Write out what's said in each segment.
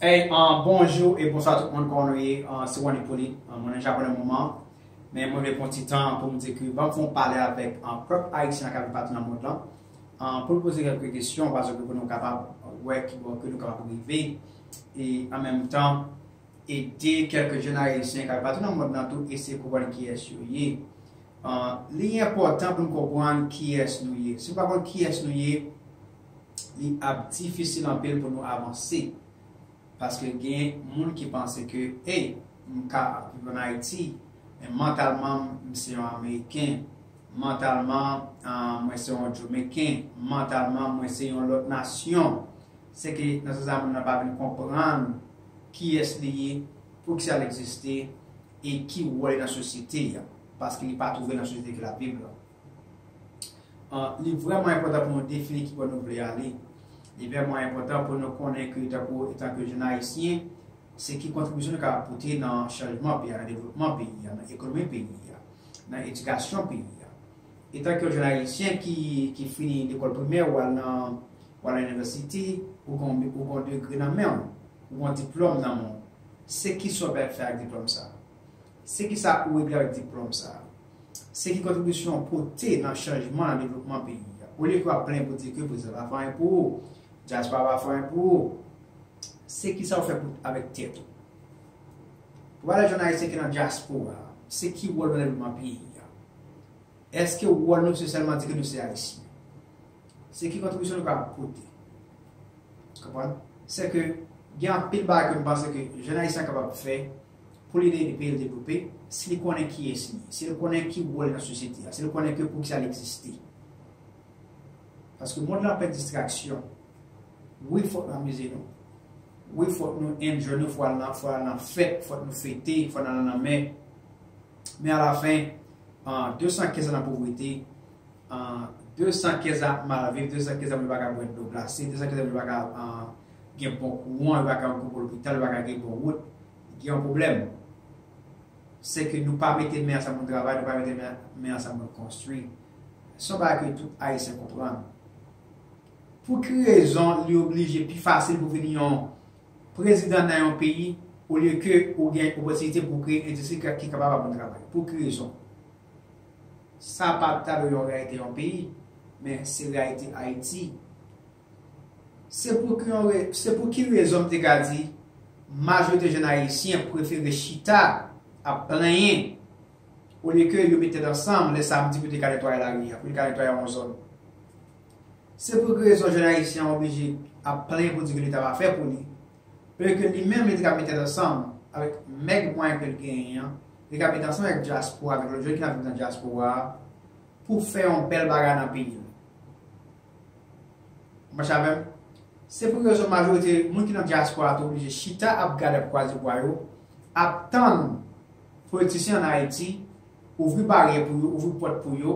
Hey, uh, bonjou e bonswa tout moun kon nou ye, uh, se Wan Ipolit, uh, mwen nan Japon nan moman, men mwen vle pon ti tan pou m di ke bank fon pale avèk uh, pèp ayisyen ak avèk patou nan mond lan, uh, pou l poze kelke kesyon, paske pou nou kapab wè ki bon ke nou kapab rive, e an menm tan, ede kelke jèn ayisyen ak avèk patou nan mond lan tou eseye konprann kiyès yo ye. Li enpòtan pou n konprann kiyès nou ye. Si nou pa konn kiyès nou ye, li ap difisil anpil pou nou avanse. Paske gen moun ki panse ke, hey, m ka ap viv ann Ayiti, men mantalman m, m se yon Ameriken, mantalman, mwen se yon Jomekin, mantalman, mwen se yon lòt nasyon. Se ke nan sans sa moun nan pa vin konprann kiyès li ye, poukisa l egziste. e ki wòl nan sosyete a, paske li pa twouve nan sosyete ki l ap viv la. Li vrèman enpòtan pou nou defini ki bò nou vle ale. Li vrèman enpòtan pou nou konnen ke tankou etanke jenn Ayisyen, se ki kontribisyon nou kapab pote nan chanjman peyi a, nan devlopman peyi a, nan ekonomi peyi a, nan edikasyon peyi a. Etanke yon jenn Ayisyen ki fini lekòl primè, ou al nan inivèsite, ou gen yon degre nan men w, ou gen yon diplòm nan men w, Se ki sa w pral fè ak diplòm sa a? Se ki sa ou regle avèk diplòm sa a? Se ki kontribisyon ou pote nan chanjman, nan devlopman peyi a? Olye ke w ap plenyen pou di ke prezidan pa fè anyen pou ou, dyaspora pa fè anyen pou ou, se ki sa ou fè pou avèk tèt ou? Pou pale ak jèn ayisyen ki nan dyaspora, se ki wòl nou nan devlopman peyi a? Eske wòl nou se sèlman di ke nou se ayisyen? Se ki kontribisyon nou ka pote? Konprann? Se ke gen anpil bagay ke m panse ke jèn Ayisyen an kapab fè pou li ede peyi l devlope, si li konnen kiyès li ye, si l konnen ki wòl li nan sosyete a, si l konnen ke poukisa li egziste. Paske mond lan plen distraksyon. Wi fòk nou amize nou. Wi fòk nou enjoy nou, fòk nou al nan fèt, fòk nou fete, fòk nou al nan lanmè. Men alafen, 215 an nan povrete, 200 kè sa ap mal viv, 200 kè sa yo pa ka bwè dlo glase, 200 kè sa yo pa ka gen bon kouran, yo pa ka antre nan lopital, yo pa ka gen bon wout, gen yon pwoblèm. Se ke nou pa mete men ansanm pou nou travay, nou pa mete men ansanm pou nou konstwi. Se yon bagay ke tout Ayisyen konprann. Pou ki rezon li oblije pi fasil pou vin yon prezidan nan yon peyi olye ke ou gen opotinite pou kreye endistri ki kapab ap moun travay? Pou ki rezon? Sa pa ta dwe yon reyalite yon peyi, men se reyalite Ayiti. Se pou ki yon re, se pou ki rezon m te ka di majorite jèn Ayisyen prefere chita ap plenyen olye ke yo met tèt ansanm lè samdi pou te ka netwaye lari a, pou te ka netwaye yon zòn. Se pou ki rezon jèn Ayisyen an oblije ap plenyen pou di ke leta pa fè pou li. Olye ke li menm li te ka met tèt ansanm avèk mèg mwayen ke li genyen an, li ka met ansanm avèk dyaspora, avèk lòt jèn ki nan viv nan dyaspora a, pou fè yon bèl bagay nan peyi nou. Ou mache avè m? Se pou rezon majorite moun ki nan dyaspora a te oblije chita ap gade ap kwaze bwa yo, ap tann politisyen an Ayiti ouvri baryè pou yo, ouvri pòt pou yo,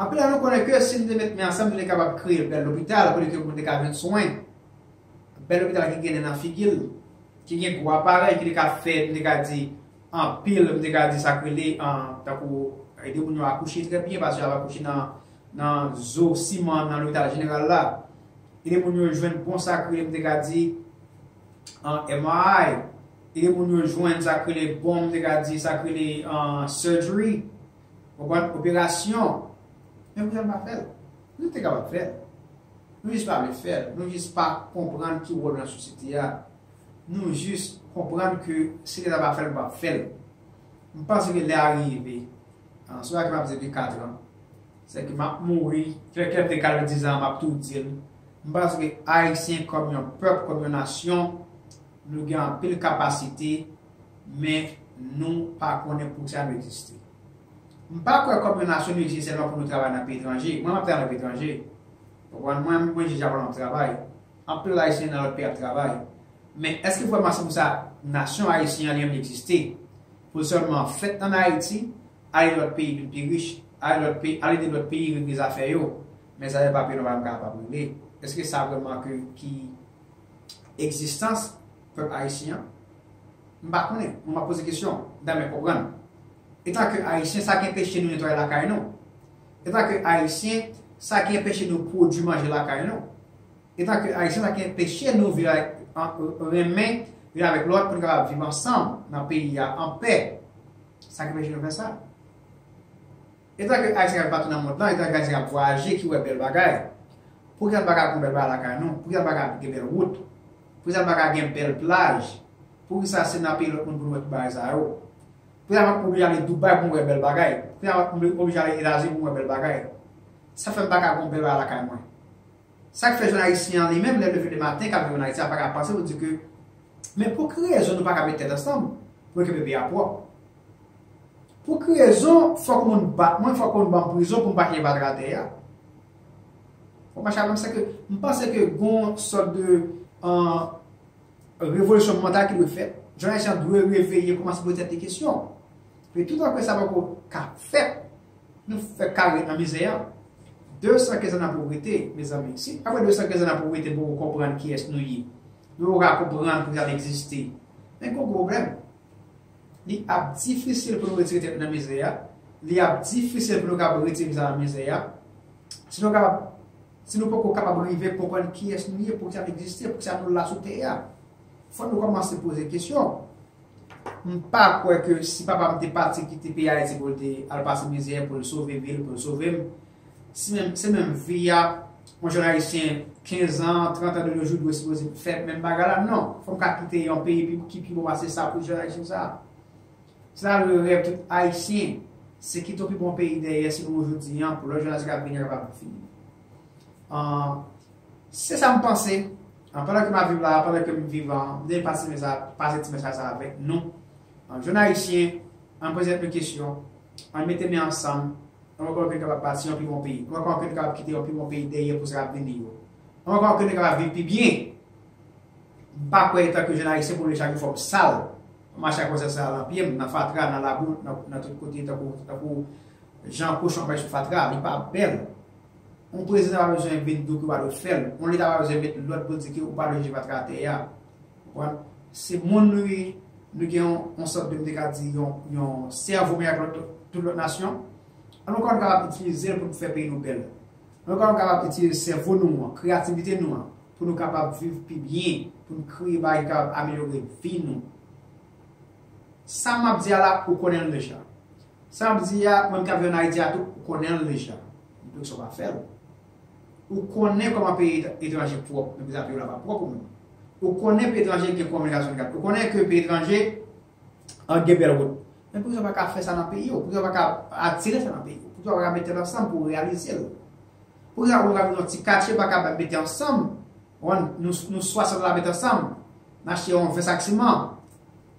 Anpil nan nou konnen ke si nou te met men ansanm nou te kapab kreye bèl lopital kote ke moun te ka jwenn swen, bèl lopital ki gen nen nan figi l, ki gen gwo aparèy ki te ka fè, nou te ka di, anpil, nou te ka di sak rele, tankou ede moun yo akouche trè byen paske yo ap akouche nan zo siman nan lopital jeneral la, ede moun yo jwenn bon sak rele, nou te ka di, MRI, ede moun yo jwenn sak rele bon, nou te ka di, sak rele surgery. Konprann operasyon. Men poukisa nou pa fèl? Nou te kapab fèl. Nou jis pa vle fèl. Nou jis pa konprann ki wòl nou nan sosyete a. Nou jis konprann ke si leta pa fèl nou pap fèl. M panse ke lè a rive. Se pou sa ke map di depi 4 an. Se ke map mouri. Fè kèm te kale 10 an map tou dil. M panse ke ayisyen kòm yon pèp, kòm yon nasyon, nou gen anpil kapasite. Men nou pa konnen poukisa nou egziste. M pa kwè kòm yon nasyon nou egziste sèlman pou nou travay nan peyi etranje. Mwen menm ap travay nan peyi etranje. Ou konprann? Mwen menm mwen je Japon ap travay. Anpil lòt Ayisyen nan lòt peyi ap travay. Men èske vrèman se pou sa nasyon Ayisyen an li menm egziste? Pou l sèlman fèt ann Ayiti, ale lòt peyi vin pi rich, ale lòt peyi, al ede lòt peyi regle zafè yo? Men zafè papye nou pa menm kapab regle. Èske sa vrèman ke ki egzistans Pèp Ayisyen an? M pa konnen, mwen m ap poze kesyon, dan mè konprann. Etanke Ayisyen, sa ki enpeche nou netwaye lakay nou? Etanke Ayisyen, sa ki enpeche nou pwodui manje lakay nou? Etanke Ayisyen, sa ki enpeche nou viv avèk, renmen youn avèk lòt pou nou kapab viv ansanm nan peyi a anpè? Sa ki enpeche nou fè sa? Etan ke Ayisyen al patou nan mond lan, etan ke Ayisyen ap vwayaje ki wè bèl bagay, pou kisa n pa ka kon bèl bagay lakay nou? Pou kisa n pa ka gen bèl wout? Pou kisa n pa ka gen bèl plaj? Pou kisa se nan peyi lòt moun pou nou wè tout bagay sa yo? Pou kisa mwen oblije ale Dubai pou mwen wè bèl bagay? Pou kisa mwen oblije ale Etazini pou mwen wè bèl bagay? Sa fè m pa ka kon bèl bagay lakay mwen? Sa k fè jèn Ayisyen an li menm lè l leve le maten k ap viv an Ayiti a pa ka panse pou l di ke men pou ki rezon nou pa ka met tèt ansanm pou nou kenbe peyi a pwòp? Pou ki rezon fòk moun bat mwen, fòk moun banm prizon pou m pa kenbe adratè a? Fòk mache avè m sèke m panse ke gon sòt de revolisyon mantal ki dwe fèt. Jèn ayisyen an dwe reveye koumanse poze tèt li kesyon. Pè toutan ke sa pa ko ka fèt, nou fèk ka ret nan mizè a. 215 an nan povrete, mezanmi. Si apre 215 an nan povrete nou poko konprann kiyès nou ye, nou poko ka konprann poukisa n egziste, men gen yon pwoblèm. Li ap difisil pou nou retire tèt nou nan mizè a. Li ap difisil pou nou kapab retire nou nan mizè a. Si nou kapab, si nou poko kapab rive konprann kiyès nou ye, poukisa nou egziste, poukisa nou la sou tè a, fòk nou kòmanse poze kesyon. M pa kwè ke si papa m te pati kite peyi Ayiti pou l te al pase mizè, pou l sove vi l, pou l sove m, Se menm vi a yon jèn ayisyen 15 an, 30 an de nos jours dwe sipoze fè menm bagay la? Non! Fò m ka kite yon peyi ki pi bon pase sa pou jèn ayisyen sa a. Se sa le rèv tout ayisyen, se kite yon pi bon peyi dèyè si pou jodi an, pou lòt jenerasyon k ap vini an kapab viv. Se sa m panse, pandan ke m ap viv la a, pandan ke m vivan, m te pase ti mesaj sa avèk nou. An jèn Ayisyen, ann poze tèt nou kesyon, ann mete men ansanm, ann wè kòman ke n kapab bati yon pi bon peyi, ann wè kòman ke n kapab kite yon pi bon peyi dèyè pou sa k ap vini yo, ann wè kòman ke n kapab viv pi byen. M pa kwè etan ke jèn Ayisyen pou m leve chak jou fò m sal, fò m mache ak wòzèt sal nan pye m, nan fatra, nan labou, nan tout kote tankou jan kochon ap mache sou fatra, li pa bèl. Yon prezidan pa bezwen vin di w ke w pa dwe fè l, yon leta pa bezwen met lòd pou l di w ke w pa dwe jete fatra atè a. Wap se moun wi nou gen yon sòt de m te ka di yon sèvo meyè ke tout lòt nasyon an nou ka kapab itilize l pou nou fè peyi nou bèl nou ka kapab itilize sèvo nou an kreyativite nou an pou nou kapab viv pi byen pou nou kreye bagay ki kapab amelyore vi nou sa map di a la ou konnen l deja sa map di a mwen ki ap viv an Ayiti a tou ou konnen l deja m pa di w pa fè l. Ou konnen kòman peyi etranje pwòp men pezav yo la pa pwòp ou menm. Ou konnen peyi etranje gen konbyen gazon kat. Ou konnen ke peyi etranje an gen bèl wout. Men poukisa ou pa ka fè sa nan peyi ou? Poukisa ou pa ka atire sa nan peyi ou? Poukisa ou pa ka met tèt ansanm pou reyalize l? Poukisa ou ka vin yon ti katye pa ka mete ansanm, wan nou 60 la mete ansanm, n achte yon 20 sak siman,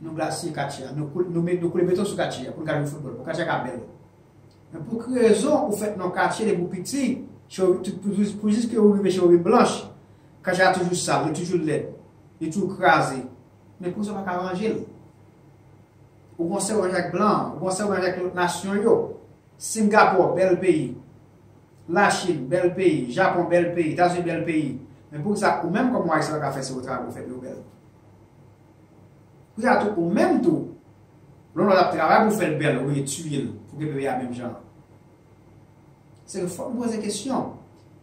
nou glasiye katye a, nou koule beton sou katye a pou nou ka jwe foutbòl, pou katye a ka bèl. Men pou ki rezon ou fèt nan katye depi ou piti, pou jiske ou rive Cherubin Blanche, katye a toujou sal, li toujou lèd, li toujou kraze. Men kouman sa ou pa ka ranje l? Ou gon sèw manje ak blan, ou gon sèw manje ak lòt nasyon yo. Singapò, bèl peyi. Lachin, bèl peyi. Japon, bèl peyi. Etazini, bèl peyi. Men pou ki sa ou menm kòm yon Ayisyen ou pa ka fè sèw travay pou fè peyi w bèl? Pou ki sa tou ou menm tou, Lolo lap travay pou fèl bèl ou vle tuyel pou gen bebe a menm jan an se nou fòk nou poze kesyon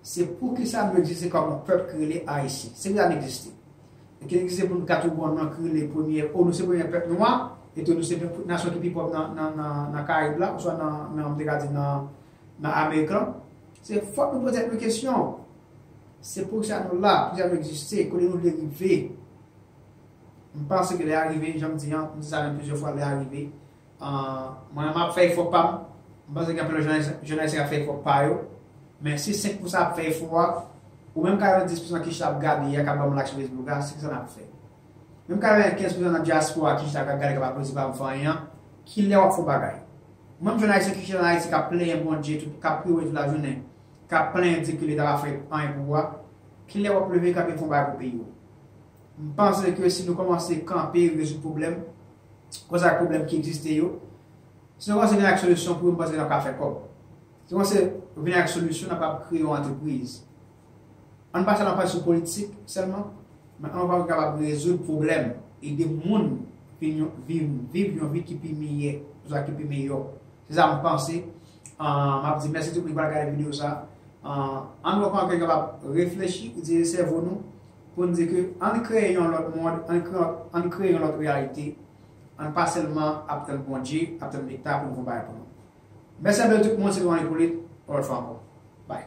se poukisa nou egziste kòm yon pèp ki rele ayisyen se poukisa nou egziste e ke nou egziste pou nou ka tou gon non ki rele premye ou nou se premye pèp nwa e tou nou se nasyon ki pi pòv nan karayib la oswa nan m te ka di nan amerik lan se fòk nou poze tèt nou kesyon se poukisa nou la poukisa nou egziste kote nou vle rive. M panse ke lè a rive, jan m di an, m di sa menm plizyè fwa, lè a rive. Mwen m ap fè efò pa m, m panse gen anpil lòt jounalis ki ap fè efò pa yo, men si 5 pou san ap fè efò a, ou menm ka gen 10 pou san ki chita ap gade ya, k ap ban m lak sou Facebook a, se sa n ap fè. Menm ka gen 15 pou san nan dyaspora ki chita k ap gade, k ap aplodi pa m fè anyen an, ki lè w ap fè yon bagay? Ou menm jounalis ki chita nan Ayiti k ap plenyen Bondye, k ap priye Bondye tout lajounen, k ap plenyen di ke leta pa fè anyen pou ou a, ki lè w ap leve kanpe fè yon bagay pou peyi w? M panse ke si nou kòmanse kanpe rezoud pwoblèm, kòz ak pwoblèm ki egziste yo, si nou kòmanse vini ak solisyon pou yo m panse ke n ap ka fè kòb. Si nou kòmanse vini ak solisyon n ap kab kreye yon antrepriz. An n pa sèlman panse sou politik sèlman, men an nou panse kapab rezoud pwoblèm, ede moun vin yon vin viv yon vi ki pi miyè, kòz ak ki pi miyò. Se sa m panse. M ap di mèsi tout moun ki pral gade videyo sa. An nou pran tan kapab reflechi, itilize sèvo nou. Pou n di ke ann kreye yon lòt mond, ann kreye yon lòt reyalite, ann pa sèlman ap tann Bondye, ap tann Leta pou l fè yon bagay pou nou. Mèsi anpil tout moun, se te Ronald Hyppolite, yon lòt fwa ankò. Bye.